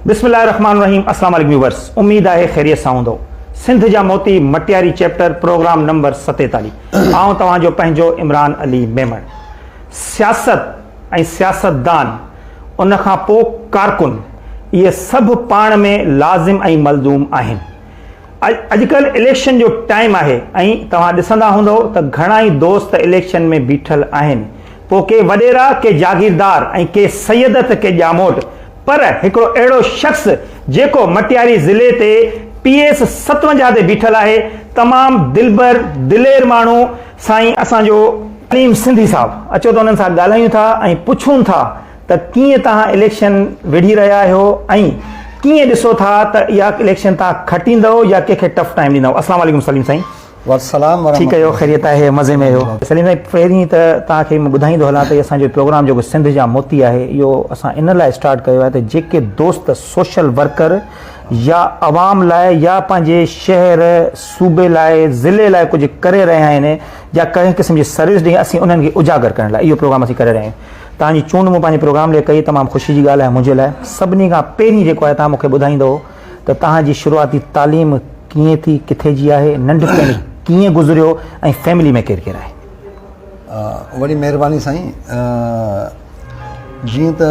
بسم الله الرحمن الرحيم اسلام عليڪم ويورس اميد آهي خيريت سان هوندو سنڌ جا موتي مٽياري چيپٽر پروگرام نمبر 47 آئون توهان جو پنهنجو عمران علي ميمڻ سياست ۽ سياستدان ان کان پوء ڪارڪن اهي سڀ پاڻ ۾ لازم ۽ ملزوم آهن اڄ ڪلهه اليڪشن جو ٽائيم آهي ۽ توهان ڏسندا هوندؤ ته گهڻا ئي دوست اليڪشن ۾ بيٺل آهن پوء ڪي وڏيرا ڪي جاگيردار ۽ ڪي سيد ته ڪي ڄاموٽ پر هڪڙو اهڙو شخص جيڪو مٽياري ضلعي تي پي ايس ستونجاهه تي بيٺل آهي تمام دلبر دلير ماڻهو سائين اسان جو عليم سنڌي صاحب اچو ته انهن سان ڳالهايون ٿا ۽ پڇون ٿا ته ڪيئن توهان اليڪشن وڙهي رهيا آهيو ۽ ڪيئن ڏسو ٿا ته اها اليڪشن توهان کٽيندؤ يا ڪنهن کي ٽف ٽائيم ڏيندؤ السلام عليڪم سليم سائين والسلام ورحمة ٺيڪ آهيو خيريت آهي مزي ۾ آهيو سليم سائين پهرين ته توهان کي مان ٻڌائيندو هلان ته اسان جو پروگرام جيڪو سنڌ جا موتي آهي اهو اسان ان لاء اسٽارٽ ڪيو آهي ته جيڪي دوست سوشل ورڪر يا عوام لاء يا پنهنجي شهر صوبي لاء ضلعي لاء ڪجهه ڪري رهيا آهن يا ڪنهن قسم جي سروس ڏيئي اسين انهن کي اجاگر ڪرڻ لاء اهو پروگرام اسين ڪري رهيا آهيون توهان جي چونڊ مون پنهنجي پروگرام لئي ڪئي، تمام خوشي جي ڳالهه آهي منهنجي لاء. سڀني کان پهرين جيڪو آهي توهان مون کي ٻڌائيندؤ ته توهان جي شروعاتي تعليم ڪيئن ٿي، ڪٿي جي آهي، ننڍپڻ ڪيئن گذريو ۽ فيملي ۾ ڪير ڪير آهي؟ وڏي مهرباني سائين جيئن ته.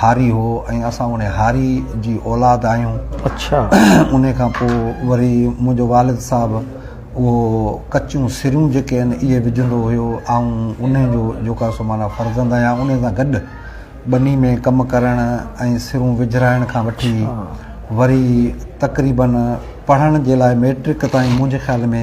هاري هو ۽ اسان انهي هاري جي اولاد آهيون. اڇا. انهي کان پوء وري منهنجو والد صاحب اهو ڪچيون سريون جيڪي آهن اهي وجهندو هيو. آئون انهي جو جيڪو سو معنيٰ فرزند آهيان. انهي سان گڏ ٻني ۾ ڪم ڪرڻ ۽ سرون وجهرائڻ کان وٺي وري تقريبن پڙهڻ جي لاء مئٽرڪ تائين منهنجي خيال ۾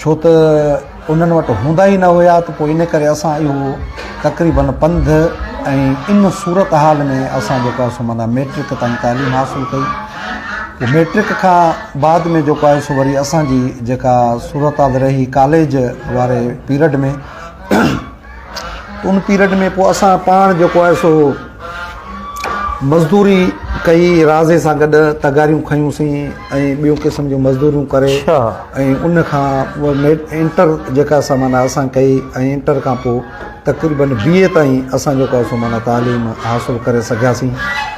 ڇو ته انهن وٽ هوندا ئي نه هيا ته پوء ان ڪري اسان اهو تقريباً پنڌ ۽ ان صورت حال ۾ اسان جيڪو آهي سو معنيٰ ميٽرڪ تائين تعليم حاصل ڪئي پوء ميٽرڪ کان بعد ۾ جيڪو آهي سو وري اسان جي جيڪا صورت حال رهي ڪاليج واري پيرڊ ۾ ان پيريڊ ۾ پوء اسان پاڻ جيڪو آهي سو مزدوري ڪئي رازي سان گڏ تغاريون کنيون سين ۽ ٻيون قسم جون مزدوريون ڪري اڇا. ۽ ان کان انٽر جيڪا سا معنيٰ اسان ڪئي ۽ انٽر کان پوء تقريبن بي اي تائين اسان جيڪو آهي سو معنيٰ تعليم حاصل ڪري سگهياسين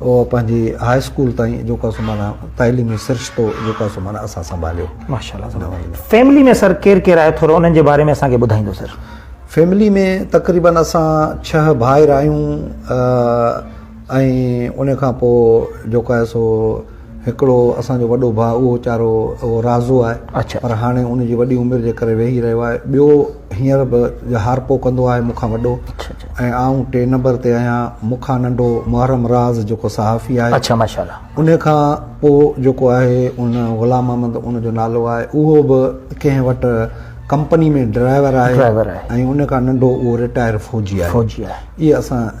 او پنهنجي هاء اسڪول تائين جيڪا سو معنيٰ تعليمي سرشتو جيڪا سو معنيٰ اسان سنڀاليو. ماشاء الله سر فيملي ۾ سر ڪير ڪير آهي ٿورو انهن جي باري ۾ اسان کي ٻڌائيندو سر. فيملي ۾ تقريبن اسان ڇهه ڀائر آهيون ۽ ان کان پوء جيڪا سو هڪڙو اسان جو وڏو ڀاء اهو ويچارو اهو رازو آهي اڇا پر هاڻي ان جي وڏي عمر جي ڪري ويهي رهيو آهي ٻيو هينئر به جهارپو ڪندو آهي مون کان وڏو اڇا اڇا ۽ آئون ٽي نمبر تي آهيان مون کان ننڍو محرم راز جيڪو صحافي آهي اڇا ماشاءالله ان کان پوء جيڪو آهي ان غلام محمد ان جو نالو آهي اهو به ڪنهن وٽ ڪمپني ۾ ڊرائيور آهي ڊرائيور آهي ۽ ان کان ننڍو اهو رٽائر فوجي آهي فوجي آهي اهي اسان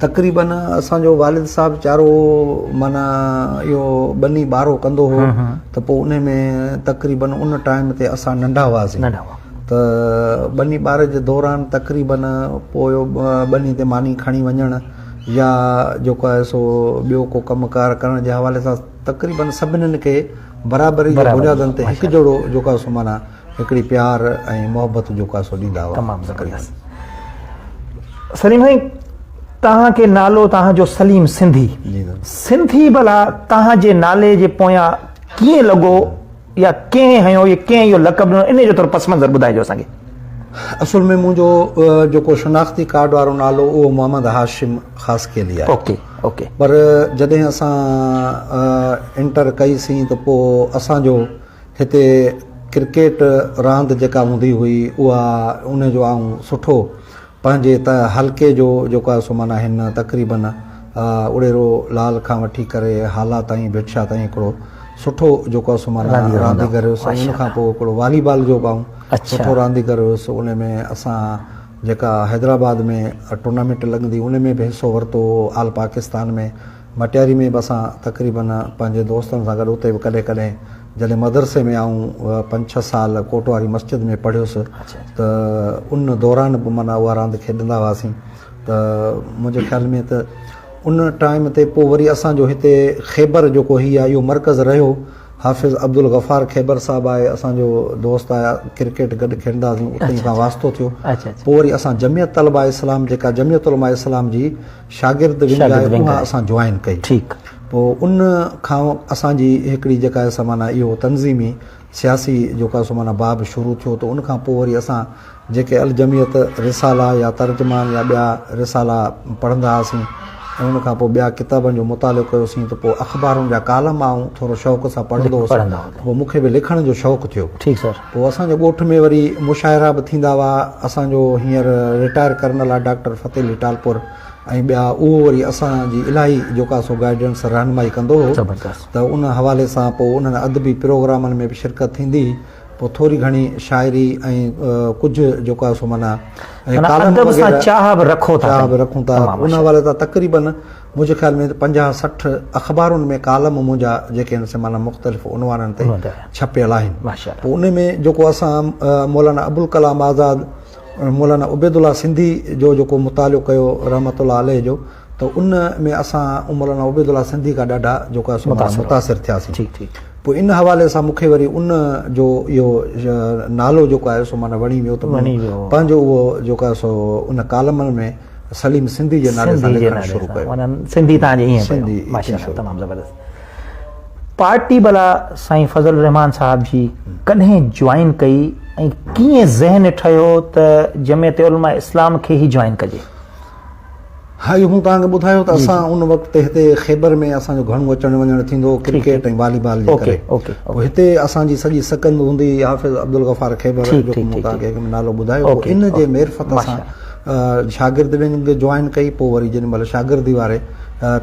تقريبن اسان جو والد صاحب چارو معنيٰ اهو ٻني ٻارو ڪندو هو ته پوء ان ۾ تقريبن ان ٽائيم تي اسان ننڍا هئاسين ته ٻني ٻار جي دوران تقريبن پوء ٻني تي ماني کڻي وڃڻ يا جيڪو آهي سو ٻيو ڪو ڪم ڪار ڪرڻ جي حوالي سان تقريبن سڀني کي برابري جي بنيادن تي هڪ جهڙو جيڪو آهي سو معنيٰ هڪڙي پيار ۽ محبت جو ڪاسو ڏيندا هئا. تمام زبردست سليم سائين توهان کي نالو توهان جو سليم سنڌي سنڌي ڀلا توهان جي نالي جي پويان ڪيئن لڳو يا ڪنهن هنيو يا ڪنهن اهو لقب ڏنو ان جو ٿورو پس منظر ٻڌائجو اسان کي. اصل ۾ منهنجو جيڪو شناختي ڪارڊ وارو نالو اهو محمد هاشم خاصخيلي آهي. Okay okay. پر جڏهن اسان انٽر ڪئي سين ته پوء اسان جو هتي ڪرڪيٽ راند جيڪا هوندي هئي اها ان جو آئون سٺو پنهنجي حلقي جو جيڪو آهي سو معنيٰ هن تقريبن اڙيرو لال کان وٺي ڪري هالا تائين ڀٽشاهه تائين هڪڙو سٺو جيڪو آهي سو معنيٰ رانديگر هيس ان کان پوء هڪڙو والي بال جو به آئون سٺو رانديگر هيس ان ۾ اسان جيڪا حيدرآباد ۾ ٽورنامينٽ لڳندي ان ۾ به حصو ورتو هو آل پاڪستان ۾ مٽياري ۾ به اسان تقريباً پنهنجي دوستن سان گڏ اتي به ڪڏهن ڪڏهن جڏهن مدرسي ۾ آئون پنج ڇهه سال ڪوٽ واري مسجد ۾ پڙهيس ته ان دوران به معنيٰ اها راند کيڏندا هئاسين ته منهنجي خيال ۾ ته ان ٽائيم تي پوء وري اسانجو هتي خيبر جيڪو هي آهي اهو مرڪز رهيو حافظ عبدالغفار خيبر صاحب آهي اسانجو دوست آهي ڪرڪيٽ گڏ کيڏندا هئاسين اتي سان واسطو ٿيو پوء وري اسان جميعت طلبا اسلام جيڪا جميعت علماء اسلام جي شاگرد ونگ آهي اها اسان جوائن ڪئي پوء ان کان اسان جي هڪڙي جيڪا سا معنيٰ اهو تنظيمي سياسي جيڪا سو معنيٰ باب شروع ٿيو ته ان کان پوء وري اسان جيڪي الجميعت رسالا يا ترجمان يا ٻيا رسالا پڙهندا هئاسين ۽ ان کان پوء ٻيا ڪتابن جو مطالعو ڪيوسين ته پوء اخبارن جا ڪالم آئون ٿورو شوق سان پڙهندو هوس پوء مون کي به لکڻ جو شوق ٿيو پوء اسان جي ڳوٺ ۾ وري مشاعرا به ٿيندا هئا، اسان جو هينئر رٽائر ڪرنل آ ڊاڪٽر فتح علي ٽالپر ۽ ٻيا اهو وري اسان جي الاهي جوڪا سو گائيڊنس رهنمائي ڪندو هو ته ان حوالي سان پوء انهن ادبي پروگرامن ۾ به شرڪت ٿيندي هئي پوء ٿوري گهڻي شاعري ۽ ڪجهه جوڪا سو معنيٰ ۽ ڪالم وغيره چاهه به رکون ٿا ان حوالي سان تقريبن منهنجي خيال ۾ ته پنجاهه سٺ اخبارن ۾ ڪالم منهنجا جيڪي آهن سي معنيٰ مختلف عنوانن تي ڇپيل آهن پوء ان ۾ جيڪو اسان مولانا ابوالڪلام آزاد مولانا عبيدالله سنڌي جو جيڪو مطالعو ڪيو رحمت الله عليه جو ته ان ۾ اسان مولانا عبيدالله سنڌي کان ڏاڍا جيڪو آهي سو متاثر ٿياسين پوء ان حوالي سان مون کي وري ان جو اهو نالو جيڪو آهي سو معنيٰ وڻي ويو ته پنهنجو اهو جيڪو آهي سو ان ڪالمن ۾ سليم سنڌي جي نالي سان لکڻ شروع ڪيو. سنڌي تان جي ائين پيو. ماشاءالله تمام زبردست. پارٽي ڀلا سائين فضل الرحمان صاحب جي ڪڏهن جوائن ڪئي ۽ ڪيئن ذهن ٺهيو ته جمعيت علماء اسلام کي ئي جوائن ڪجي؟ ها اهو مون توهان کي ٻڌايو ته اسان ان وقت تي هتي خيبر ۾ اسان جو گهڻو اچڻ وڃڻ ٿيندو هو ڪرڪيٽ ۽ والي بال جي ڪري. پوء هتي اسان جي سڄي سڪند هوندي هئي حافظ عبدالغفار خيبر جو مون توهان کي نالو ٻڌايو هو ان جي معرفت سان شاگرد ونگ جوائن ڪئي پوء وري جنھن مھل شاگردي واري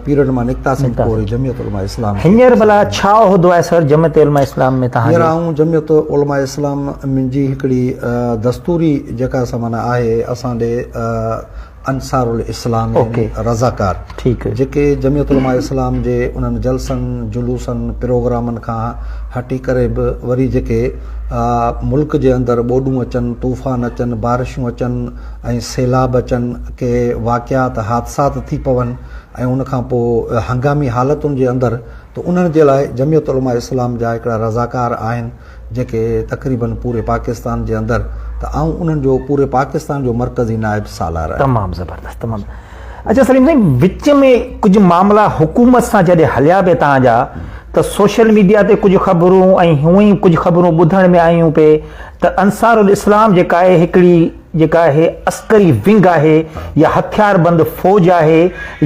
پيرڊ مان نڪتاسين پوء وري جمعيت علماء اسلام ھينئر ڀلا ڇا عھدو آھي سر جمعيت علماء اسلام ۾ توھان جو؟ ھينئر آئون جمعيت علماء اسلام منھنجي ھڪڙي دستوري جيڪا سا معنيٰ آھي اسان ڏي انصار الاسلام يعني رضاڪار جيڪي جمعيت علماء اسلام جي انھن جلسن جلوسن پروگرامن کان ھٽي ڪري به وري جيڪي آء ملڪ جي اندر ٻوڏون اچن، طوفان اچن، بارشون اچن ۽ سيلاب اچن، ڪي واقعات، حادثات ٿي پون ۽ ان کان پوء هنگامي حالتن جي اندر ته انهن جي لاء جميعت علماء اسلام جا هڪڙا رضاڪار آهن جيڪي تقريبن پوري پاڪستان جي اندر ته آئون انهن جو پوري پاڪستان جو مرڪزي نائب سالار آهيان. تمام زبردست تمام. اچا سليم سائين وچ ۾ ڪجهه معاملا حڪومت سان جڏهن هليا پي توهان جا ته سوشل ميڊيا تي ڪجهه خبرون ۽ هونء ئي ڪجهه خبرون ٻڌڻ ۾ آيون پي ته انصارالاسلام جيڪا آهي هڪڙي جيڪا آهي عسڪري ونگ آهي يا هٿيار بند فوج آهي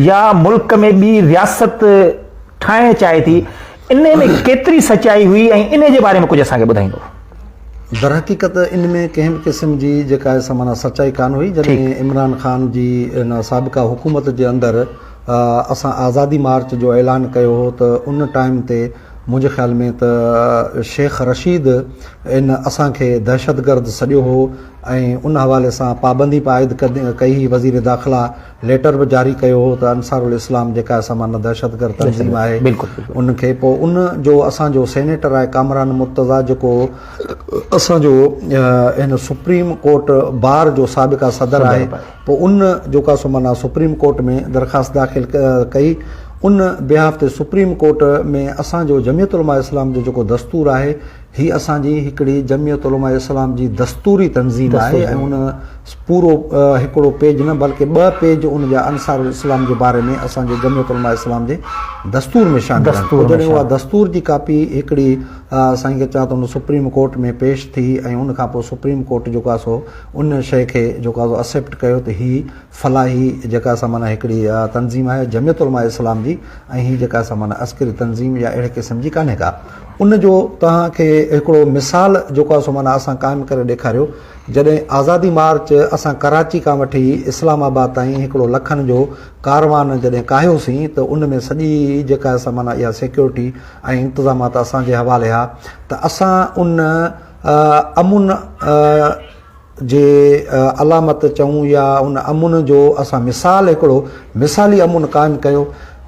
يا ملڪ ۾ ٻي رياست ٺاهڻ چاهي ٿي انهيء ۾ ڪيتري سچائي هئي ۽ انهيء جي باري ۾ ڪجهه اسان کي ٻڌائيندو؟ درحقيقت ان ۾ ڪنهن به قسم جي جيڪا آهي سا معنيٰ سچائي ڪانه هئي. جڏهن عمران خان جي ان سابقه حڪومت جي اندر اسان آزادي مارچ جو اعلان ڪيو هو ته ان ٽائيم تي منهنجي خيال ۾ ته شيخ رشيد ان اسان کي دهشتگرد سڏيو هو ۽ ان حوالي سان پابندي به عائد ڪئي هئي وزير داخلا ليٽر به جاري ڪيو هو ته انصارالاسلام جيڪا اسان مان دهشتگرد تنظيم آهي ان کي پوء ان جو اسان جو سينيٽر آهي ڪامران مرتضا جيڪو اسان جو هن سپريم ڪورٽ بار جو سابقا صدر آهي پوء ان جو ڪا سو مانا سپريم ڪورٽ ۾ درخواست داخل ڪئي ان بيهاف تي سپريم ڪورٽ ۾ اسان جو جميعت علماء اسلام جو جيڪو دستور آهي هي اسان جي هڪڙي جمعيت علماء اسلام جي دستوري تنظيم آهي ۽ ان پورو هڪڙو پيج نه بلڪه ٻه پيج ان جا انصار الاسلام جي باري ۾ اسان جي جمعيت علماء اسلام جي دستور ۾ شامل آهن جڏهن اها دستور جي ڪاپي هڪڙي سائين کي چاهه ته ان سپريم ڪورٽ ۾ پيش ٿي ۽ ان کان پوء سپريم ڪورٽ جيڪو آهي سو ان شيء کي جيڪو آهي سو اسيپٽ ڪيو ته هي فلاحي جيڪا سا معنيٰ هڪڙي تنظيم آهي جمعيت علماء اسلام جي ۽ هي جيڪا سا معنيٰ عسڪري تنظيم يا اهڙي قسم جي ڪانهي ڪا ان جو توهان کي هڪڙو مثال جيڪو آهي سو معنيٰ اسان قائم ڪري ڏيکاريو. جڏهن آزادي مارچ اسان ڪراچي کان وٺي اسلام آباد تائين هڪڙو لکن جو ڪاروان جڏهن ڪاهيوسين ته ان ۾ سڄي جيڪا سا معنيٰ اها سيڪيورٽي ۽ انتظامات اسان جي حوالي ها ته اسان ان امن جي علامت چئون يا ان امن جو اسان مثال هڪڙو مثالي امن قائم ڪيو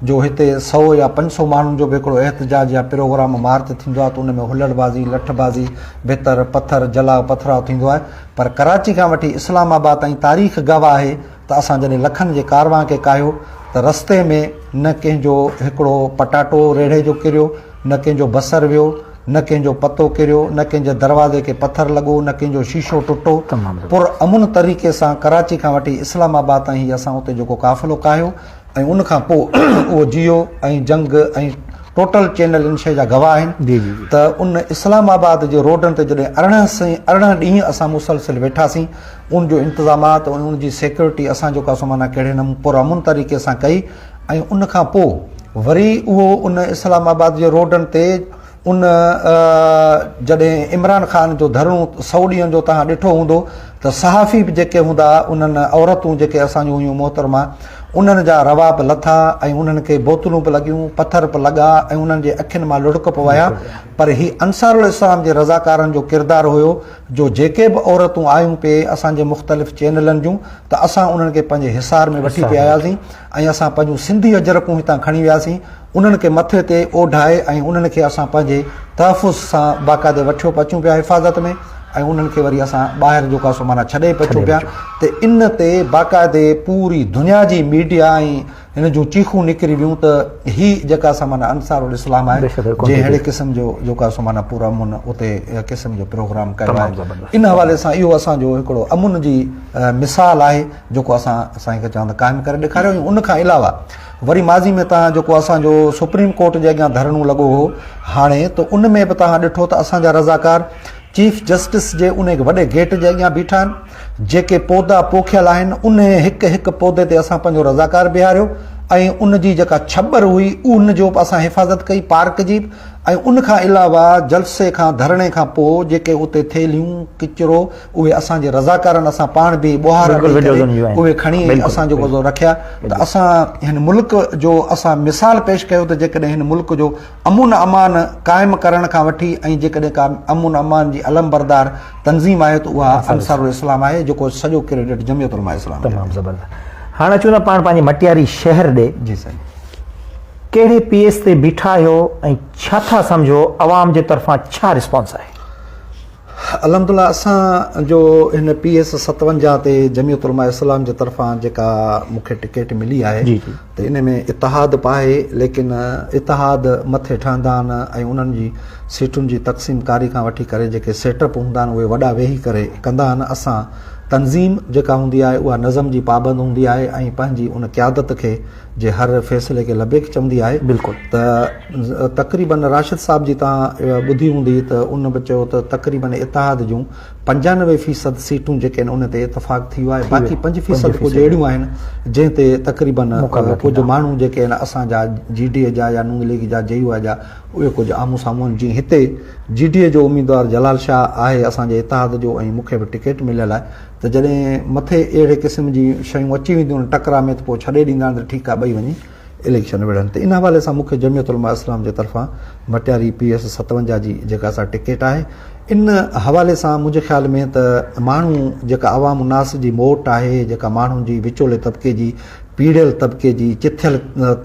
جو هتي سئو يا پنج سئو ماڻهن جو به هڪڙو احتجاج يا پروگرام مارچ ٿيندو آهي ته ان ۾ هلڙ بازي، لٺ بازي، ڀتر، پٿر، جلاء پٿراء ٿيندو آهي پر ڪراچي کان وٺي اسلام آباد تائين تاريخ گواهه آهي ته اسان جڏهن لکن جي ڪاروان کي ڪاهيو ته رستي ۾ نه ڪنهن جو هڪڙو پٽاٽو ريڙهي جو ڪريو نه ڪنهن جو بصر ويو، نه ڪنهن جو پتو ڪريو، نه ڪنهن جي دروازي کي پٿر لڳو، نه ڪنهن جو شيشو ٽٽو، پر امن طريقي سان ڪراچي کان وٺي اسلام آباد تائين هي اسان اتي جيڪو قافلو ڪاهيو ۽ ان کان پوء اهو جيو ۽ جنگ ۽ ٽوٽل چينل ان شيء جا گواهه آهن ته ان اسلام آباد جي روڊن تي جڏهن ارڙهن سين ارڙهن ڏينهن اسان مسلسل ويٺاسين ان جو انتظامات ۽ ان جي سيڪيورٽي اسان جيڪو سو معنيٰ ڪهڙي نمون پر امن طريقي سان ڪئي ۽ ان کان پوء وري اهو ان اسلام آباد جي روڊن تي ان جڏهن عمران خان جو ڌرڻو سؤ ڏينهن جو توهان ڏٺو هوندو ته صحافي به جيڪي هوندا انهن عورتون جيڪي اسان جون هيون محترما انهن جا روا به لٿا ۽ انهن کي بوتلون به لڳيون پٿر به لڳا ۽ انهن جي اکين مان لڙڪ به وهيا پر هي انصار الاسلام جي رضاڪارن جو ڪردار هيو جو جيڪي به عورتون آيون پي اسان جي مختلف چينلن جون ته اسان انهن کي پنهنجي حصار ۾ وٺي پي آياسين ۽ اسان پنهنجون سنڌي اجرڪون هتان کڻي وياسين انهن کي مٿي تي اوڍائي ۽ انهن کي اسان پنهنجي تحفظ سان باقاعدي وٺيو پي اچون پيا حفاظت ۾ ۽ انهن کي وري اسان ٻاهر جو ڪاسو معنيٰ ڇڏي پي اچون پيا ته ان تي باقاعدي پوري دنيا جي ميڊيا ۽ هن جون چيخون نڪري ويون ته هي جيڪا سا معنيٰ انصارالاسلام آهي جنهن اهڙي قسم جو جيڪا سو معنيٰ پر امن اتي قسم جو پروگرام ڪيو آهي ان حوالي سان اهو اسان جو هڪڙو امن جي مثال آهي جيڪو اسان سائين کي چوان ته قائم ڪري ڏيکاريو ۽ ان کان علاوه وري ماضي ۾ تان جيڪو اسان جو سپريم ڪورٽ جي اڳيان ڌرڻو لڳو هو هاڻي ته ان ۾ به تان ڏٺو ته اسان جا رضاڪار چيف جسٽس جي انهي وڏي گيٽ جي اڳيان بيٺا آهن، جيڪي پودا پوکيل آهن، انهي هڪ هڪ پودي تي اسان پنهنجو رضاڪار بيهاريو ۽ ان جي جيڪا ڇٻر هئي ان جو به اسان حفاظت ڪئي پارڪ جي ۽ ان کان علاوه جلسي کان ڌرڻي کان پوء جيڪي اتي ٿيلهيون ڪچرو اهي اسان جي رضاڪارن اسان پاڻ بيهي ٻوهارا ڏئي ڪري اهي کڻي اسان جيڪو سو رکيا ته اسان هن ملڪ جو اسان مثال پيش ڪيو ته جيڪڏهن هن ملڪ جو امن امان قائم ڪرڻ کان وٺي ۽ جيڪڏهن ڪا امن امان جي علمبردار تنظيم آهي ته اها انصار الاسلام آهي جيڪو سڄو ڪريڊٽ جمعيت علماء اسلام کي تمام زبردست هاڻ اچون ٿا پاڻ پنهنجي مٽياري شهر ڏي جي سائين ڪهڙي پيس تي بيٺا آهيو ۽ ڇا ٿا سمجهو عوام جي طرفان ڇا رسپانس آهي؟ الحمدالله اسان جو هن پي ايس ستونجاهه تي جميعت علماء اسلام جي طرفان جيڪا مون کي ٽڪيٽ ملي آهي ته ان ۾ اتحاد به آهي ليڪن اتحاد مٿي ٺهندا آهن ۽ انهن جي سيٽن جي تقسيم ڪاري کان وٺي ڪري جيڪي سيٽ اپ هوندا آهن اهي وڏا ويهي ڪري ڪندا آهن اسان تنظيم جيڪا هوندي آهي اها نظم جي پابند هوندي آهي ۽ پنهنجي ان قيادت کي جي هر فيصلي کي لبيڪ چوندي آهي بلڪل ته تقريبن راشد صاحب جي تان ٻڌي هوندي ته ان به چيو ته تقريبن اتحاد جون پنجانوي فيصد سيٽون جيڪي آهن ان تي اتفاق ٿي ويو آهي باقي پنج فيصد ڪجهه اهڙيون آهن جنهن تي تقريبن ڪجهه ماڻهو جيڪي آهن اسان جا جي ڊي اي جا يا نون ليگ جا جي يو آء جا اهي ڪجهه آمهون سامهون آهن جيئن هتي جي ڊي اي جو اميدوار جلال شاهه آهي اسان جي اتحاد جو ۽ مون کي به ٽڪيٽ مليل آهي ته جڏهن مٿي اهڙي قسم جي شيون اچي وينديون ان ٽڪرا ۾ ته پوء ڇڏي ڏيندا آهن ته ٺيڪ آهي ٻئي وڃي اليڪشن وڙهن ته ان حوالي سان مون کي جميعت علماء اسلام جي طرفان مٽياري پي ايس ستونجاهه جي جيڪا اسان ٽڪيٽ آهي ان حوالي سان منهنجي خيال ۾ ته ماڻهو جيڪا عوام الناس جي موٽ آهي جيڪا ماڻهن جي وچولي طبقي جي پيڙهيل طبقي جي چٿيل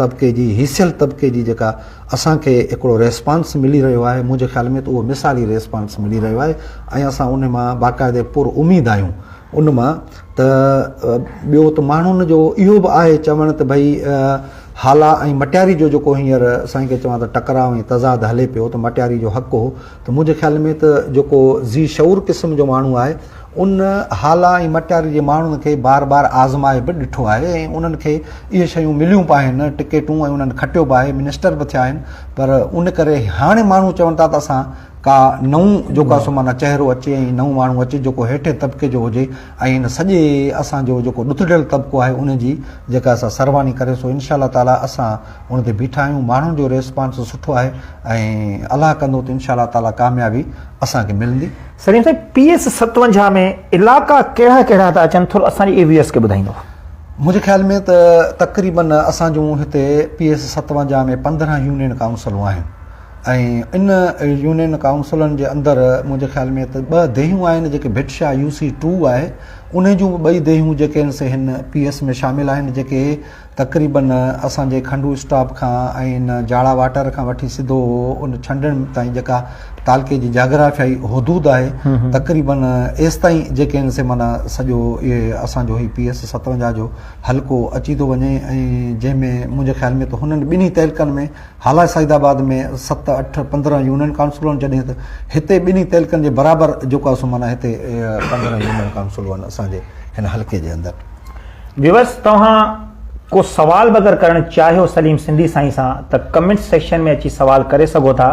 طبقي جي هيسيل طبقي جي جيڪا اسان کي هڪڙو ريسپانس ملي رهيو آهي، منهنجي خيال ۾ ته اهو مثالي ريسپانس ملي رهيو آهي ۽ اسان ان مان باقاعدي پر اميد آهيون ان مان ته ٻيو ته ماڻهن جو اهو به آهي چوڻ ته ڀئي هالا ۽ مٽياري جو جيڪو هينئر سائين کي چوان ته ٽڪراء ۽ تضاد هلي پيو ته مٽياري جو حق هو ته منهنجي خيال ۾ ته جيڪو ذي شعور قسم جو ماڻهو آهي ان هالا ۽ مٽياري جي ماڻهن کي بار بار آزمائي به ڏٺو آهي ۽ انهن کي اهي شيون مليون به آهن ٽڪيٽون ۽ انهن کٽيو به آهي منسٽر به ٿيا آهن پر ان ڪري هاڻي ماڻهو چون ٿا ته اسان ڪا نئون جيڪو آهي سو معنيٰ چهرو اچي ۽ نئون ماڻهو اچي جيڪو هيٺين طبقي جو هجي ۽ ان سڄي اسان جو جيڪو ڏتڙيل طبقو آهي ان جي جيڪا سا سرواني ڪري سو انشاء الله تعالٰي اسان ان تي بيٺا آهيون ماڻهن جو ريسپانس سٺو آهي ۽ الله ڪندو ته انشاء الله تعالي ڪاميابي اسان کي ملندي. سليم صاحب پي ايس ستونجاهه ۾ علائقا ڪهڙا ڪهڙا ٿا اچن ٿورو اسان جي اي ويورس کي ٻڌائيندو. منهنجي خيال ۾ ته تقريبن اسان جون هتي پي ايس ستونجاهه ۾ پندرهن يونين ڪائونسلون آهن ۽ ان يونين ڪائونسلن جي اندر منهنجي خيال ۾ ته ٻه ديهيون آهن جيڪي ڀٽشاهه يو سي ٽو آهي انهي جون به ٻئي ديهيون جيڪي آهن سي هن پي ايس ۾ شامل آهن جيڪي تقريباً اسان جي کنڊو اسٽاپ کان ۽ ان جاڙا واٽر کان وٺي سڌو ان ڇنڊڻ تائين جيڪا تعلقي جي جاگرافيائي حدود آهي تقريباً ايستائين جيڪي آهن سي معنيٰ سڄو اهي اسان جو هي پي ايس ستونجاهه جو حلقو اچي ٿو وڃي ۽ جنهن ۾ منهنجي خيال ۾ ته هنن ٻنهي تعلقن ۾ هالا سعيد آباد ۾ ست اٺ پندرهن يونين ڪائونسلون آهن جڏهن ته هتي ٻنهي تعلقن جي برابر جيڪو آهي سو معنيٰ هتي پندرهن يونين ڪائونسلون آهن اسان جي هن حلقي جي اندر ويورز توهان ڪو سوال به اگر ڪرڻ چاهيو سليم سنڌي سائين سان ته ڪمينٽس سيڪشن ۾ اچي سوال ڪري سگهو ٿا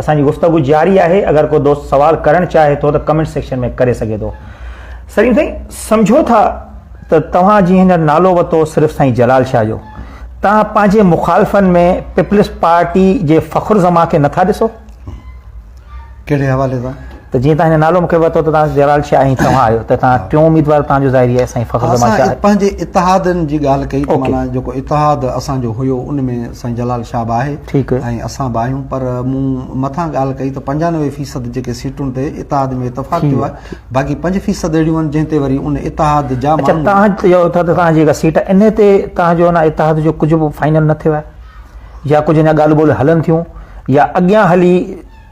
اسان جي گفتگو جاري آهي اگر ڪو دوست سوال ڪرڻ چاهي ٿو ته ڪمينٽس سيڪشن ۾ ڪري سگهي ٿو سليم سائين سمجهو ٿا ته توهان جي هينئر نالو وتو صرف سائين جلال شاهه جو توهان پنهنجي مخالفن ۾ پيپلز پارٽي جي فخر زمان کي نٿا ڏسو ڪهڙي حوالي سان؟ ته جيئن توهان هن نالو مون کي ورتو ته توهان جلال شاهه ۽ توهان آهيو ته توهان ٽيون اميدوار توهان جو ظاهري آهي سائين فخر زمان شاهه. اسان پنهنجي اتحادن جي ڳالهه ڪئي ته معنيٰ جيڪو اتحاد اسان جو هيو ان ۾ سائين جلال شاهه به آهي ۽ اسان به آهيون پر مون مٿان ڳالهه ڪئي ته پنجانوي فيصد جيڪي سيٽون تي اتحاد ۾ اتفاق ٿيو آهي باقي پنج فيصد اهڙيون آهن جنهن تي وري ان اتحاد جا ماڻهو. اڇا توهان چئو ٿا ته توهان جي جيڪا سيٽ آهي ان تي توهان جو ان اتحاد جو ڪجهه به فائنل نه ٿيو آهي؟ يا ڪجهه اڃا ڳالهه ٻولهه هلن ٿيون يا اڳيان هلي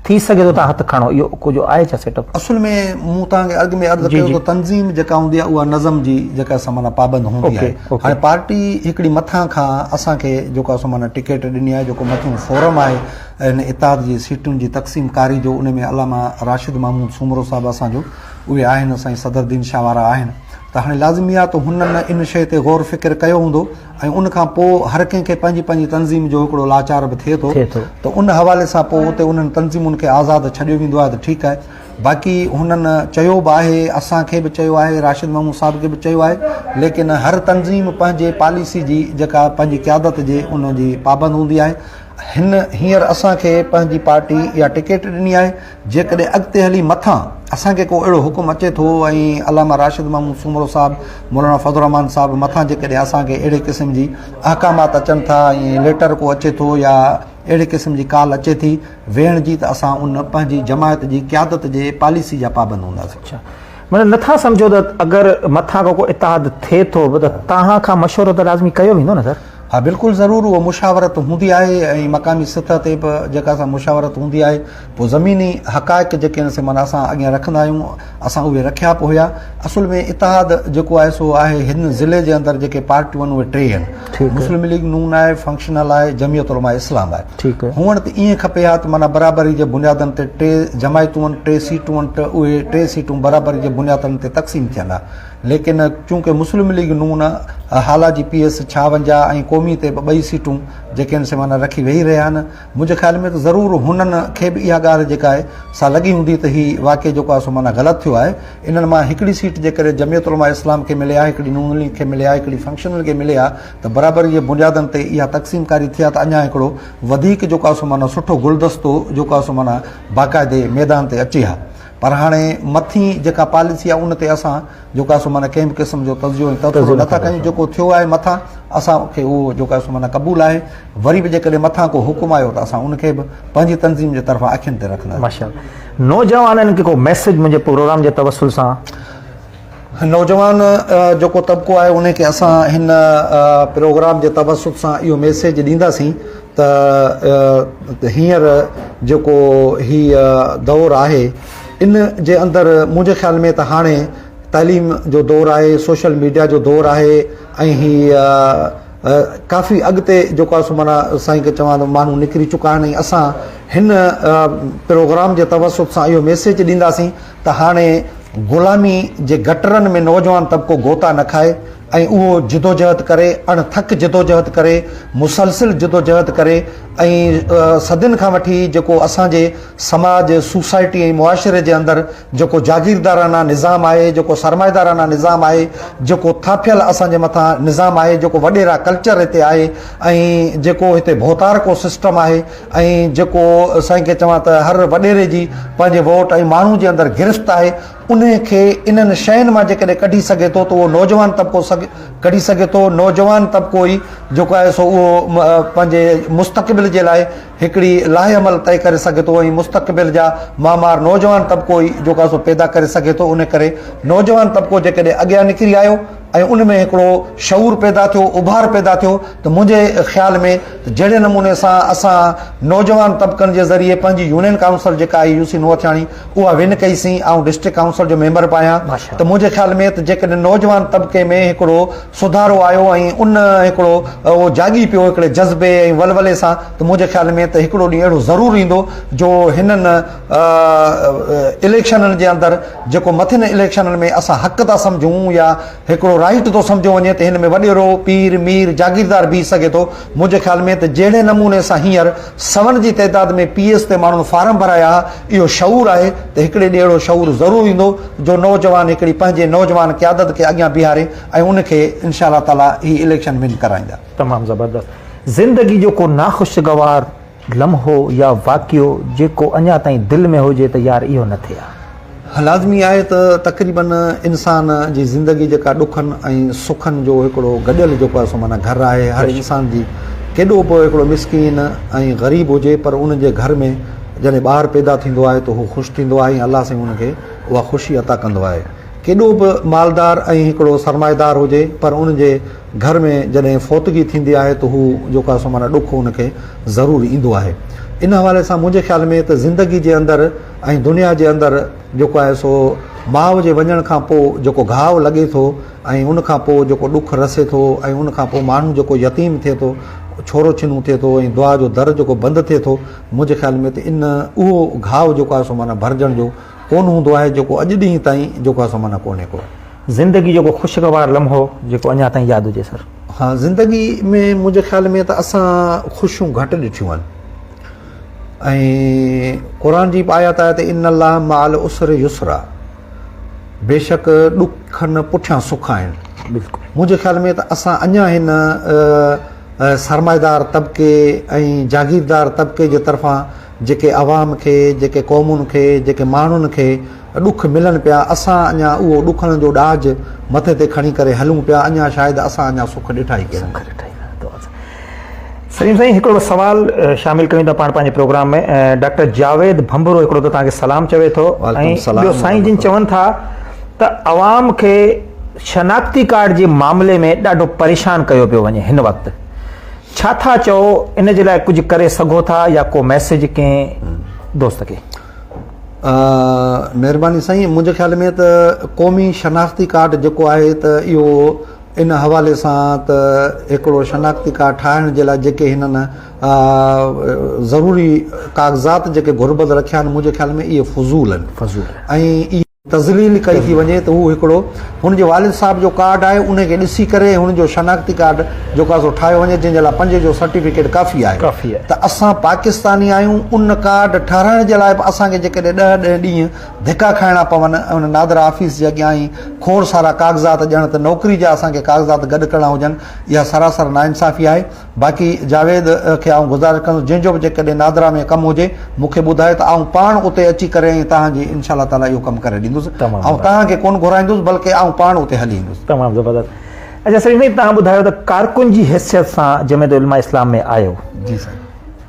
ٿي سگهي ٿو تان هٿ کڻو اهو ڪجهه آهي ڇا سيٽ اپ. اصل ۾ مون توهان کي اڳ ۾ عرض ڪيو ته تنظيم جيڪا هوندي آهي اها نظم جي جيڪا سا معنيٰ پابند هوندي آهي هاڻي پارٽي هڪڙي مٿان کان اسان کي جيڪو آهي سو معنيٰ ٽڪيٽ ڏني آهي جيڪو مٿيون فورم آهي ان اتحاد جي سيٽن جي تقسيم ڪاري جو ان ۾ علامه راشد محمود سومرو صاحب اسان جو اهي آهن سائين صدر الدين شاهه وارا آهن ته هاڻي لازمي آهي ته هنن ان شيء تي غور فڪر ڪيو هوندو ۽ ان کان پوء هر ڪنهن کي پنهنجي پنهنجي تنظيم جو هڪڙو لاچار به ٿئي ٿو ته ان حوالي سان پوء اتي انهن تنظيمن کي آزاد ڇڏيو ويندو آهي ته ٺيڪ آهي باقي هنن چيو به آهي اسان کي به چيو آهي راشد محمود صاحب کي به چيو آهي ليڪن هر تنظيم پنهنجي پاليسي جي جيڪا پنهنجي قيادت جي ان جي پابند هوندي آهي هن هينئر اسان کي پنهنجي پارٽي اها ٽڪيٽ ڏني آهي جيڪڏهن اڳتي هلي مٿان اسان کي ڪو اهڙو حڪم اچي ٿو ۽ علامه راشد محمود سومرو صاحب، مولانا فضل الرحمان صاحب مٿان جيڪڏهن اسان کي اهڙي قسم جي احڪامات اچن ٿا ۽ ليٽر ڪو اچي ٿو يا اهڙي قسم جي ڪال اچي ٿي ويهڻ جي ته اسان ان پنهنجي جماعت جي قيادت جي پاليسي جا پابند هونداسين. معنيٰ نه ٿا سمجهو ته اگر مٿان ڪو اتحاد ٿئي ٿو به ته توهان کان مشورو ته لازمي ڪيو ويندو نه سر؟ ها بلڪل ضرور اها مشاورت هوندي آهي ۽ مقامي سطح تي به جيڪا سا مشاورت هوندي آهي پوء زميني حقائق جيڪي آهن سي معنيٰ اسان اڳيان رکندا آهيون اسان اهي رکيا به هيا اصل ۾ اتحاد جيڪو آهي سو آهي هن ضلعي جي اندر جيڪي پارٽيون آهن اهي ٽي آهن مسلم ليگ نون آهي فنڪشنل آهي جميعت علماء اسلام آهي هونئن ته ائين کپي ها ته معنيٰ برابري جي بنيادن تي ٽي جماعتون آهن ٽي سيٽون آهن ته اهي ٽي سيٽون برابري جي بنيادن تي تقسيم ٿين ها ليڪن چونڪه مسلم ليگ نون، هالا جي پي ايس ڇاونجاهه ۽ قومي تي به ٻئي سيٽون جيڪي آهن سي معنيٰ رکي ويهي رهيا آهن. منهنجي خيال ۾ ته ضرور هنن کي به اها ڳالهه جيڪا آهي سا لڳي هوندي ته هي واقعي جيڪو آهي سو معنيٰ غلط ٿيو آهي. انهن مان هڪڙي سيٽ جيڪڏهن جمعيت علماء اسلام کي ملي ها، هڪڙي نون ليگ کي ملي ها، هڪڙي فنڪشنل کي ملي ها ته برابري جي بنيادن تي اها تقسيم ڪاري ٿئي ها ته اڃا هڪڙو وڌيڪ جيڪو آهي سو معنيٰ سٺو گلدستو جيڪو آهي سو معنيٰ باقاعدي ميدان تي اچي ها. پر هاڻي مٿين جيڪا پاليسي آهي ان تي اسان جيڪو آهي سو معنيٰ ڪنهن به قسم جو تجزيو ۽ تبصرو نه ٿا ڪيون جيڪو ٿيو آهي مٿان اسان کي اهو جيڪو آهي سو معنيٰ قبول آهي وري به جيڪڏهن مٿان ڪو حڪم آيو ته اسان ان کي به پنهنجي تنظيم جي طرفان اکين تي رکنداسين نوجوانن کي ڪو ميسيج منهنجي پروگرام جي توسل سان نوجوان جيڪو طبقو آهي ان کي اسان هن پروگرام جي توسط سان اهو ميسيج ڏينداسين ته هينئر جيڪو هي دور آهي ان جي اندر منهنجي خيال ۾ ته هاڻي تعليم جو دور آهي سوشل ميڊيا جو دور آهي ۽ هي ڪافي اڳتي جيڪو آهي سو معنيٰ سائين کي چوان ته ماڻهو نڪري چڪا آهن ۽ اسان هن پروگرام جي توسط سان اهو ميسيج ڏينداسين ته هاڻي غلامي جي گٽرن ۾ نوجوان طبقو غوطا نه کائي ۽ اهو جدوجهد ڪري اڻ ٿڪ جدوجهد ڪري مسلسل جدوجهد ڪري ۽ صدين کان وٺي جيڪو اسان جي سماج، سوسائٽي ۽ معاشري جي اندر جيڪو جاگيردارانه نظام آهي، جيڪو سرمائيدارانه نظام آهي، جيڪو ٿاڦيل اسان جي مٿان نظام آهي، جيڪو وڏيرا ڪلچر هتي آهي ۽ جيڪو هتي ڀوتارڪو سسٽم آهي ۽ جيڪو سائين ڪي چوان ته هر وڏيري جي پنهنجي ووٽ ۽ ماڻهو جي اندر گرفت آهي، انهي کي انهن شين مان جيڪڏهن ڪڍي سگهي ٿو ته اهو نوجوان طبقو ڪڍي سگهي ٿو، نوجوان طبقو ئي جيڪو آهي سو اهو پنهنجي مستقبل جي لاء هڪڙي لائحه عمل طئي ڪري سگهي ٿو ۽ مستقبل جا معمار نوجوان طبقو ئي جو ڪاسو پيدا ڪري سگهي ٿو ان ڪري نوجوان طبقو جيڪڏهن اڳيان نڪري آيو ۽ ان ۾ هڪڙو شعور پيدا ٿيو اڀار پيدا ٿيو ته منهنجي خيال ۾ جهڙي نموني سان اسان نوجوان طبقن جي ذريعي پنهنجي يونين ڪائونسل جيڪا آهي يوسي نوهٿياڻي اها ون ڪئي سين آئون ڊسٽرڪٽ ڪائونسل جو ميمبر به آهيان ته منهنجي خيال ۾ ته جيڪڏهن نوجوان طبقي ۾ هڪڙو سڌارو آيو ۽ ان هڪڙو اهو جاڳي پيو هڪڙي جذبي ۽ ولولي سان ته منهنجي خيال ۾ ته هڪڙو ڏينهن اهڙو ضرور ايندو جو هنن اليڪشنن جي اندر جيڪو مٿين اليڪشنن ۾ اسان حق ٿا سمجهون يا هڪڙو رائيٽ ٿو سمجهيو وڃي ته هن ۾ وڏيرو، پير، مير، جاگيردار بيهي سگهي ٿو. منهنجي خيال ۾ ته جهڙي نموني سان هينئر سون جي تعداد ۾ پي ايس تي ماڻهن فارم ڀرايا ها اهو شعور آهي ته هڪڙي ڏينهن اهڙو شعور ضرور ايندو جو نوجوان هڪڙي پنهنجي نوجوان قيادت کي اڳيان بيهاري ۽ ان کي انشاء الله تعالي هي اليڪشن ون ڪرائيندا. تمام زبردست زندگي جو ڪو ناخوشگوار لمحو يا واقعو جيڪو اڃا تائين دل ۾ هجي ته يار اهو نه ٿئي ها. لازمي آهي ته تقريبن انسان جي زندگي جيڪا ڏکن ۽ سکن جو هڪڙو گڏيل جيڪو آهي سو معنيٰ گهر آهي هر انسان جي ڪيڏو به هڪڙو مسڪين ۽ غريب هجي پر ان جي گهر ۾ جڏهن ٻار پيدا ٿيندو آهي ته هو خوش ٿيندو آهي ۽ الله سائين ان کي اها خوشي عطا ڪندو آهي ڪيڏو به مالدار ۽ هڪڙو سرمائيدار هجي پر ان جي گهر ۾ جڏهن فوتگي ٿيندي آهي ته هو جيڪو سو معنيٰ ڏک ان کي ضرور ايندو آهي. ان حوالي سان منهنجي خيال ۾ ته زندگي جي اندر ۽ دنيا جي اندر جيڪو آهي سو ماء جي وڃڻ کان پوء جيڪو گهاء لڳي ٿو ۽ ان کان پوء جيڪو ڏک رسي ٿو ۽ ان کان پوء ماڻهو جيڪو يتيم ٿئي ٿو ڇورو ڇنو ٿئي ٿو ۽ دعا جو در جيڪو بند ٿئي ٿو منهنجي خيال ۾ ته ان اهو گهاء جيڪو آهي سو معنيٰ ڀرجڻ جو ڪونه هوندو آهي جيڪو اڄ ڏينهن تائين جيڪو اسان مان نه ڪونهي ڪو. زندگي جو ڪو خوشگوار لمحو جيڪو اڃا تائين ياد هجي سر. ها زندگي ۾ منهنجي خيال ۾ ته اسان خوشيون گهٽ ڏٺيون آهن ۽ قرآن جي به آيات آهي ته ان الله مع العسر يسرا بيشڪ ڏکن پٺيان سک آهن بلڪل منهنجي خيال ۾ ته اسان اڃا هن سرمائيدار طبقي ۽ جاگيردار طبقي جي طرفان جيڪي عوام کي، جيڪي قومن کي، جيڪي ماڻهن کي ڏک ملن پيا، اسان اڃا اهو ڏکن جو ڏاج مٿي تي کڻي ڪري هلون پيا، اڃا شايد اسان اڃا سک ڏٺا ئي ڪين. سليم سائين هڪڙو سوال شامل ڪيون ٿا پاڻ پنهنجي پروگرام ۾ ڊاڪٽر جاويد ڀنڀرو هڪڙو ته توهان کي سلام چوي ٿو ۽ ٻيو سائين جن چون ٿا ته عوام کي شناختي ڪارڊ جي معاملي ۾ ڏاڍو پريشان ڪيو پيو وڃي هن وقت ڇا ٿا چئو ان جي لاء ڪجهه ڪري سگهو ٿا يا ڪو ميسيج ڪنهن دوست کي. مهرباني سائين منهنجي خيال ۾ ته قومي شناختي ڪارڊ جيڪو آهي ته اهو ان حوالي سان ته هڪڙو شناختي ڪارڊ ٺاهڻ جي لاء جيڪي هنن ضروري ڪاغذات جيڪي گهربل رکيا آهن منهنجي خيال ۾ اهي فضول آهن ۽ تذليل ڪئي ٿي وڃي ته هو هڪڙو هن جي والد صاحب جو ڪارڊ آهي انهي کي ڏسي ڪري ۽ هن جو شناختي ڪارڊ جو ڪا سو ٺاهيو وڃي جنهن جي لاء پنج جو سرٽيفڪيٽ ڪافي آهي ته اسان پاڪستاني آهيون ان ڪارڊ ٺهرائڻ جي لاء به اسان کي جيڪڏهن ڏهه ڏهه ڏينهن ڌڪا کائڻا پون ۽ ان نادرا آفيس جي اڳيان هي کوڙ سارا ڪاغذات ڄڻ ته نوڪري جا اسان کي ڪاغذات گڏ ڪرڻا هجن اها سراسر ناانصافي آهي باقي جاويد کي آئون گذارش ڪندس جنهن جو به جيڪڏهن نادرا ۾ ڪم هجي مون کي ٻڌايو ته آئون پاڻ اتي اچي ڪري ۽ توهان جي ان شاء الله تعاليٰ اهو ڪم ڪري ڏيندس آئون توهان کي ڪونه گهرائيندس بلڪه آئون پاڻ اتي هلي ايندس. تمام زبردست اچا سعيد ڀائي توهان ٻڌايو ته ڪارڪن جي حيثيت سان جمعيت علماء اسلام ۾ آيو. جي سائين.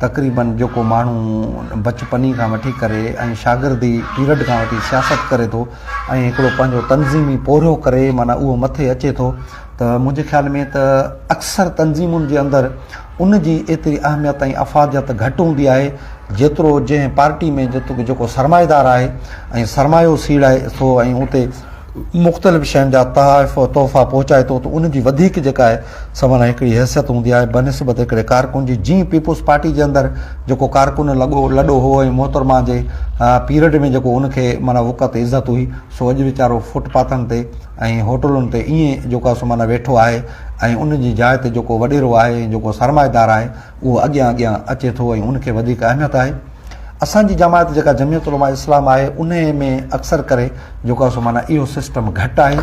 تقريباً جيڪو ماڻهو بچپني کان وٺي ڪري ۽ شاگردي پيرڊ کان وٺي سياست ڪري ٿو ۽ هڪڙو پنهنجو تنظيمي پورهيو ڪري معنيٰ اهو مٿي اچي ٿو ته منهنجي خيال ۾ ته اڪثر تنظيمن جي اندر ان جي ايتري اهميت ۽ افاديت گهٽ هوندي آهي جيترو جنهن پارٽي ۾ جيڪو سرمائيدار آهي ۽ سرمايو سيڙائي ٿو ۽ اتي مختلف شين جا تحائف و تحفا پهچائي ٿو ته ان جي وڌيڪ جيڪا آهي سا معنيٰ هڪڙي حيثيت هوندي آهي بنسبت هڪڙي ڪارڪن جي جيئن پيپلز پارٽي جي اندر جيڪو ڪارڪن لڳو لڏو هو ۽ محترمه جي پيرڊ ۾ جيڪو ان کي معنيٰ وقعت عزت هئي سو اڄ ويچارو فٽ پاٿن تي ۽ هوٽلن تي ائين جيڪو آهي سو معنيٰ ويٺو آهي ۽ ان جي جاء تي جيڪو وڏيرو آهي ۽ جيڪو سرمائيدار آهي اهو اڳيان اڳيان اچي ٿو ۽ ان کي وڌيڪ اهميت آهي اسان جي جماعت جيڪا جميعت علماء اسلام آهي انهي ۾ اڪثر ڪري جيڪو آهي سو معنيٰ اهو سسٽم گهٽ آهي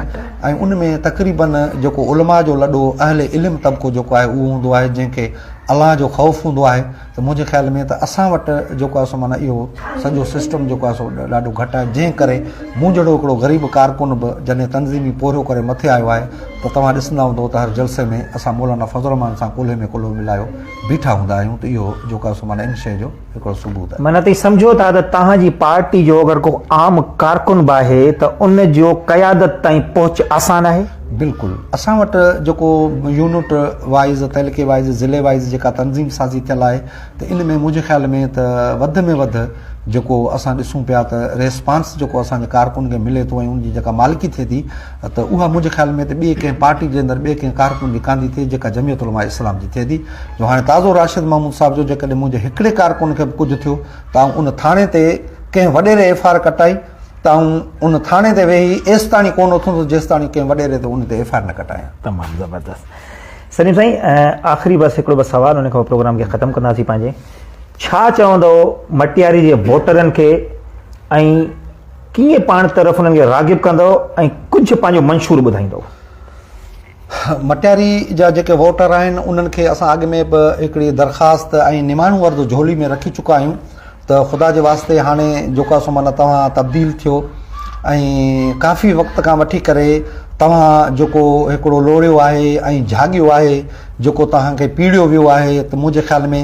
۽ ان ۾ تقريباً جيڪو علماء جو لڏو اهل علم طبقو جيڪو آهي اهو هوندو آهي جنهن کي الله جو خوف هوندو آهي ته منهنجي خيال ۾ ته اسان وٽ جيڪو آهي سو معنيٰ اهو سڄو سسٽم جيڪو آهي سو ڏاڍو گهٽ آهي جنهن ڪري مون جهڙو هڪڙو غريب ڪارڪن به جڏهن تنظيمي پورهيو ڪري مٿي آيو آهي ته توهان ڏسندا هوندو ته هر جلسي ۾ اسان مولانا فضل الرحمان سان ڪلهي ۾ ڪلهو ملايو بيٺا هوندا آهيون ته اهو جوڪا سو معنيٰ ان شيء جو هڪڙو ثبوت آهي. معنيٰ توهين سمجهو ٿا ته توهان جي پارٽي جو اگر ڪو عام ڪارڪن به آهي ته ان جو قيادت تائين پهچ آسان آهي؟ بلڪل. اسان وٽ جيڪو يونٽ وائيز، تعلقي وائيز، ضلعي وائيز جيڪا تنظيم سازي ٿيل آهي ته ان ۾ منهنجي خيال ۾ ته وڌ ۾ وڌ جيڪو اسان ڏسون پيا ته ريسپانس جيڪو اسان جي ڪارڪن کي ملي ٿو ۽ ان جي جيڪا مالڪي ٿئي ٿي ته اها منهنجي خيال ۾ ته ٻئي ڪنهن پارٽي جي اندر ٻئي ڪنهن ڪارڪن جي ڪانڌي ٿئي جيڪا جمعيت علماء اسلام جي ٿئي ٿي جو هاڻي تازو راشد محمود صاحب جو جيڪڏهن منهنجي هڪڙي ڪارڪن کي به ڪجهه ٿيو ته آئون ان ٿاڻي تي ڪنهن وڏيري ايف آر ڪٽائي ته آئون ان ٿاڻي تي ويهي ايستاڻي ڪونه اٿندس جيستاڻي ڪنهن وڏيري تي ان تي ايف آر نه ڪٽايان تمام زبردست سليم سائين آخري بس هڪڙو بس سوال ان کان پروگرام کي ختم ڪنداسي پنهنجي ڇا چوندو مٽياري جي ووٽرن کي ۽ ڪيئن پاڻ طرف انهن کي راغب ڪندؤ ۽ ڪجهه پنهنجو منشور ٻڌائيندؤ؟ مٽياري جا جيڪي ووٽر آهن انهن کي اسان اڳ ۾ به هڪڙي درخواست ۽ نماڻو عرض جهولي ۾ رکي چڪا آهيون ته خدا جي واسطي هاڻي جوڪا سو معنيٰ توهان تبديل ٿيو ۽ ڪافي وقت کان وٺي ڪري توهان جيڪو هڪڙو لوڙيو آهي ۽ جهاڳيو آهي جيڪو توهان کي پيڙيو ويو آهي ته منهنجي خيال ۾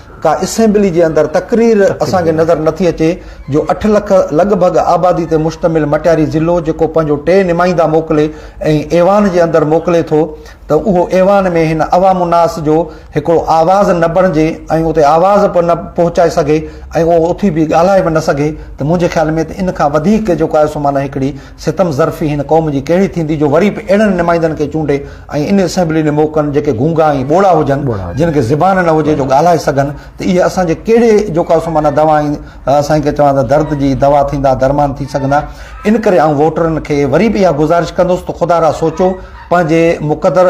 ڪا اسيمبلي جي اندر تقرير اسان کي نظر نٿي اچي جو اٺ لک لڳ ڀڳ آبادي تي مشتمل مٽياري ضلعو جيڪو پنهنجو ٽي نمائندا موڪلي ۽ ايوان جي اندر موڪلي ٿو ته اهو ايوان ۾ هن عوام الناس جو هڪڙو آواز نه بڻجي ۽ اتي آواز به نه پهچائي سگهي ۽ اهو اٿي به ڳالهائي به نه سگهي ته منهنجي خيال ۾ ته ان کان وڌيڪ جيڪو آهي سو معنيٰ هڪڙي ستم ظرفي هن قوم جي ڪهڙي ٿيندي جو وري به اهڙن نمائندن کي چونڊي ۽ ان اسيمبلي ڏي موڪلن جيڪي گونگا ۽ ٻوڙا هجن جن کي زبان نه هجي جو ڳالهائي سگهن ته اهي اسان جي ڪهڙي جو ڪا سو معنيٰ دوا ۽ سائين کي چوان ته درد جي دوا ٿيندا درمان ٿي سگهندا ان ڪري آئون ووٽرن کي وري به اها گذارش ڪندس ته خدا را سوچو پنهنجي مقدر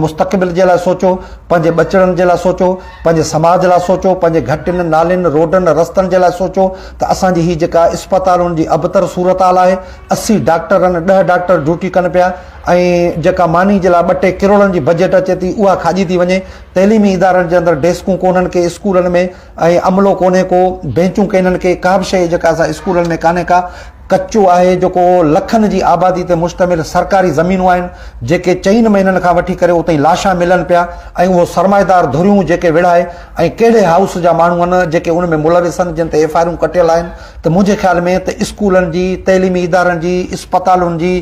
مستقبل جي لاء سوچو پنهنجي ٻچڙن جي لاء سوچو پنهنجي سماج لاء سوچو، پنهنجي گهٽين، نالين، روڊن، رستن جي لاء سوچو ته اسان جي هي جيڪا اسپتالن جي ابتر صورتحال آهي، اسي ڊاڪٽرن ڏهه ڊاڪٽر ڊيوٽي ڪن پيا ۽ جيڪا ماني جي لاء ٻه ٽي ڪروڙن جي بجيٽ اچي ٿي اها کاڄي ٿي وڃي، تعليمي ادارن جي اندر ڊيسڪون ڪونهن ڪي اسڪولن ۾ ۽ عملو ڪونهي ڪو، بينچون ڪينهن ڪي، ڪابه شيء جيڪا اسان اسڪولن ۾ ڪانهي ڪا. ڪچو آهي جيڪو لکن جي آبادي تي مشتمل سرڪاري زمينون آهن جيڪي چئن مهينن کان وٺي ڪري اتي لاشا ملن پيا ۽ اهو سرمائيدار ڌريون جيڪي وڙهائي ۽ ڪهڙي هائوس جا ماڻهو آهن جيڪي ان ۾ ملوث آهن جن تي ايف آئرون ڪٽيل آهن ته منهنجي خيال ۾ ته اسڪولن جي تعليمي ادارن جي اسپتالن جي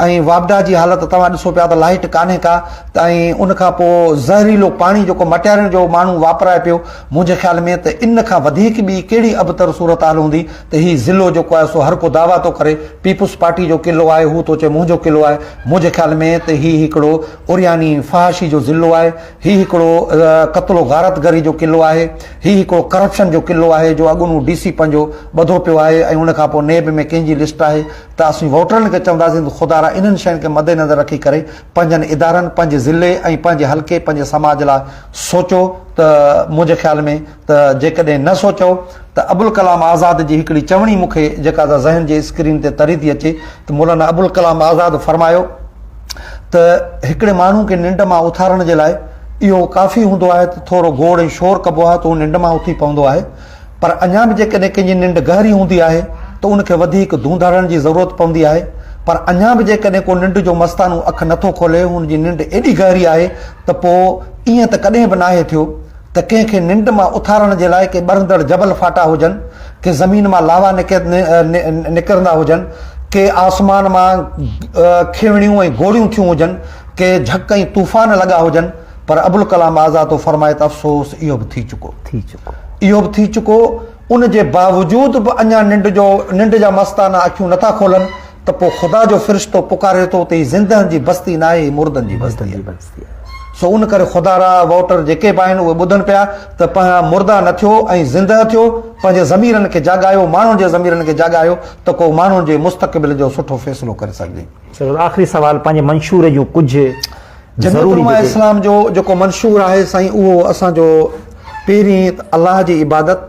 ۽ واپڊا جي حالت توهان ڏسو پيا ته لائيٽ ڪانهي ڪا ته ۽ ان کان پو زهريلو پاڻي جيڪو مٽيارين جو ماڻهو واپرائي پيو منهنجي خيال ۾ ته ان کان وڌيڪ ٻي ڪهڙي ابتر صورتحال هوندي ته هي ضلعو جيڪو آهي سو هر ڪو دعويٰ ٿو ڪري پيپلز پارٽي جو قلعو آهي هو ٿو چئي منهنجو قلعو آهي منهنجي خيال ۾ ته هي هڪڙو عرياني فحاشي جو ضلعو آهي هي هڪڙو قتل و غارت گري جو قلعو آهي هي هڪڙو ڪرپشن جو قلعو آهي جو اڳوڻو ڊي سي پنهنجو ٻڌو پيو آهي ۽ ان کان پوء نيب ۾ ڪنهن جي لسٽ آهي ته اسين ووٽرن کي چونداسين ته خدا را انهن شين کي مدنظر رکي ڪري پنهنجن ادارن پنهنجي ضلعي ۽ پنهنجي حلقي پنهنجي سماج لاء سوچو ته منهنجي خيال ۾ ته جيڪڏهن نه سوچئو ته ابوالڪلام آزاد جي هڪڙي چوڻي مون کي جيڪا ادا ذهن جي اسڪرين تي تري ٿي اچي ته مولانا ابوالڪلام آزاد فرمايو ته هڪڙي ماڻهو کي ننڊ مان اٿارڻ جي لاء اهو ڪافي هوندو آهي ته ٿورو گوڙ ۽ شور ڪبو آهي ته هو ننڊ مان اٿي پوندو آهي پر اڃا به جيڪڏهن ڪنهن جي ننڊ گهري هوندي آهي ته ان کي وڌيڪ ڌونڌ هڻڻ جي ضرورت پوندي آهي پر اڃا به جيڪڏهن ڪو ننڊ جو مستانو اک نٿو کولي هن جي ننڊ ايڏي گهري آهي ته پوء ائين ته ڪڏهن به ناهي ٿيو ته ڪنهن کي ننڊ مان اٿارڻ جي لاء ڪي ٻرندڙ جبل ڦاٽا هجن، ڪي زمين مان لاوا نڪرندا هجن، ڪي آسمان مان کيوڻيون ۽ گوڙيون ٿيون هجن، ڪي جهڪ ۽ طوفان لڳا هجن، پر ابوالڪلام آزاد ٿو فرمائي ته افسوس اهو به ٿي چڪو. اهو به ٿي چڪو، ان جي باوجود به اڃا ننڊ جو ننڊ جا مستانه اکيون نه ٿا کولن ته پوء خدا جو فرشتو پڪاري ٿو ته هي زندهن جي بستي ناهي، هي مردن جي بستي آهي. سو ان ڪري خدا را ووٽر جيڪي به آهن اهي ٻڌن پيا ته پنهان مرده نه ٿيو ۽ زندهه ٿيو، پنهنجي ضميرن کي جاڳايو، ماڻهن جي ضميرن کي جاڳايو ته ڪو ماڻهن جي مستقبل جو سٺو فيصلو ڪري سگهجي. سر آخري سوال پنهنجي منشور جون ڪجهه جميعت ضروري علماء جيڪي. اسلام جو جيڪو منشور آهي سائين اهو اسان جو پهرين ته الله جي عبادت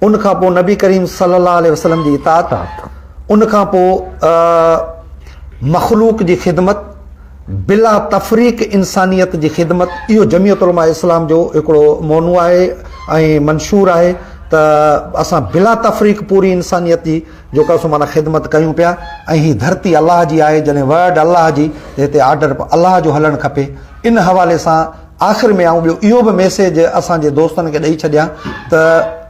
ان کان پوء نبي ڪريم صلي الله عليه وسلم جي اطاعت اطاعت. ان کان پوء مخلوق جي خدمت بلا تفريق انسانيت جي خدمت اهو جميعت علماء اسلام جو هڪڙو مونو آهي ۽ منشور آهي ته اسان بلا تفريق پوري انسانيت جي جيڪا سو معنيٰ خدمت ڪيون پيا ۽ هي ڌرتي الله جي آهي جڏهن ورڊ الله جي ته هتي آرڊر به الله جو هلڻ کپي ان حوالي سان آخر ۾ آئون ٻيو اهو به ميسيج اسان جي دوستن کي ڏئي ڇڏيان ته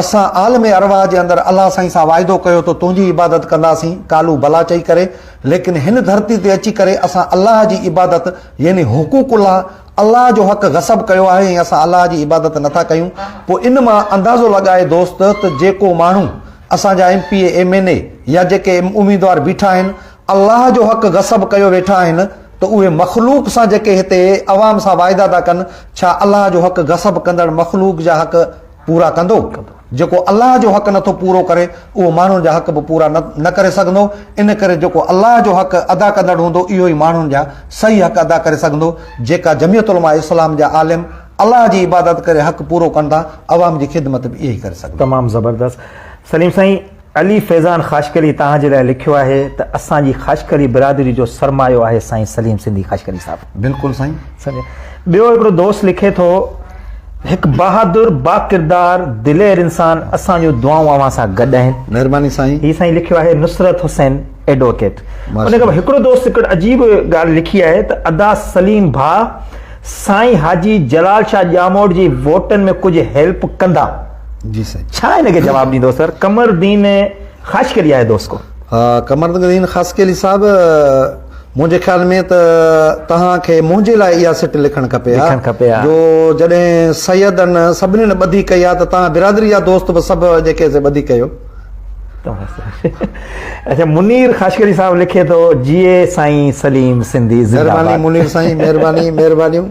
اسان عالم ارواح جي اندر الله سائين سان واعدو ڪيو ته تنهنجي عبادت ڪنداسين ڪالو بلا چئي ڪري ليڪن هن ڌرتي تي اچي ڪري اسان الله جي عبادت يعني حقوق الله، الله جو حق غصب ڪيو آهي ۽ اسان الله جي عبادت نه ٿا ڪيون پوء ان مان اندازو لڳائي دوست ته جيڪو ماڻهو اسان جا M P A M N A يا جيڪي اميدوار بيٺا آهن الله جو حق غصب ڪيو ويٺا آهن ته اهي مخلوق سان جيڪي هتي عوام سان واعدا ٿا ڪن ڇا الله جو حق غصب ڪندڙ مخلوق جا حق پورا ڪندو. جيڪو الله جو حق نٿو پورو ڪري، اهو ماڻهن جا حق به پورا نه ڪري سگهندو. ان ڪري جيڪو الله جو حق ادا ڪندڙ هوندو، اهو ئي ماڻهن جا صحيح حق ادا ڪري سگهندو. جيڪا جميعت علماء اسلام جا عالم الله جي عبادت ڪري حق پورو ڪن ٿا، عوام جي خدمت به اهي ئي ڪري سگهندا. تمام زبردست سليم سائين. علي فيضان خاشقلي توهان جي لاء لکيو آهي ته اسان جي خاشقلي برادري جو سرمايو آهي سائين سليم سنڌي خاشقلي صاحب. بلڪل سائين. سمجهيا. ٻيو هڪڙو دوست لکي ٿو هڪ بهادر باڪردار دلير انسان اسان جون دعائون اوهان سان گڏ آهن. مهرباني سائين. هي سائين لکيو آهي نصرت حسين ايڊووڪيٽ. ان کان پوء هڪڙو دوست هڪڙي عجيب ڳالهه لکي آهي ته ادا سليم ڀاء سائين حاجي جلال شاهه ڄاموٽ جي ووٽن ۾ ڪجهه هيلپ ڪندا. جي سائين ڇا ان کي جواب ڏيندو سر قمردين خاشقلي آهي دوست ڪو قمردين خاشقلي صاحب منهنجي خيال ۾ ته توهان کي منهنجي لاء اها سٽ لکڻ کپي ها کپي ها جو جڏهن سيدن سڀني نه ٻڌي ڪئي ها ته توهان برادري جا دوست به سڀ جيڪي سي ٻڌي ڪيو اچھا منير خاشقلي صاحب لکي ٿو جيئي سائين سليم سنڌي زندهه باد مهرباني منير سائين مهرباني مهربانيون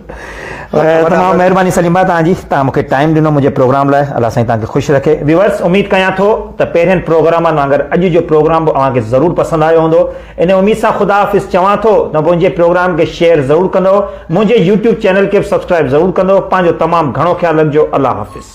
تمام مهرباني سليم ڀاء توهان جي توهان مونکي ٽائيم ڏنو منهنجي پروگرام لاء الله سائين توهان کي خوش رکي ويورس اميد ڪيان ٿو ته پهرين پروگرامن وانگر اڄ جو پروگرام به اوهان کي ضرور پسند آيو هوندو ان اميد سان خدا حافظ چوان ٿو ته منهنجي پروگرام کي شيئر ضرور ڪندو منهنجي يوٽيوب چينل کي به سبسڪرائب ضرور ڪندو پنهنجو تمام گهڻو خيال رکجو الله حافظ.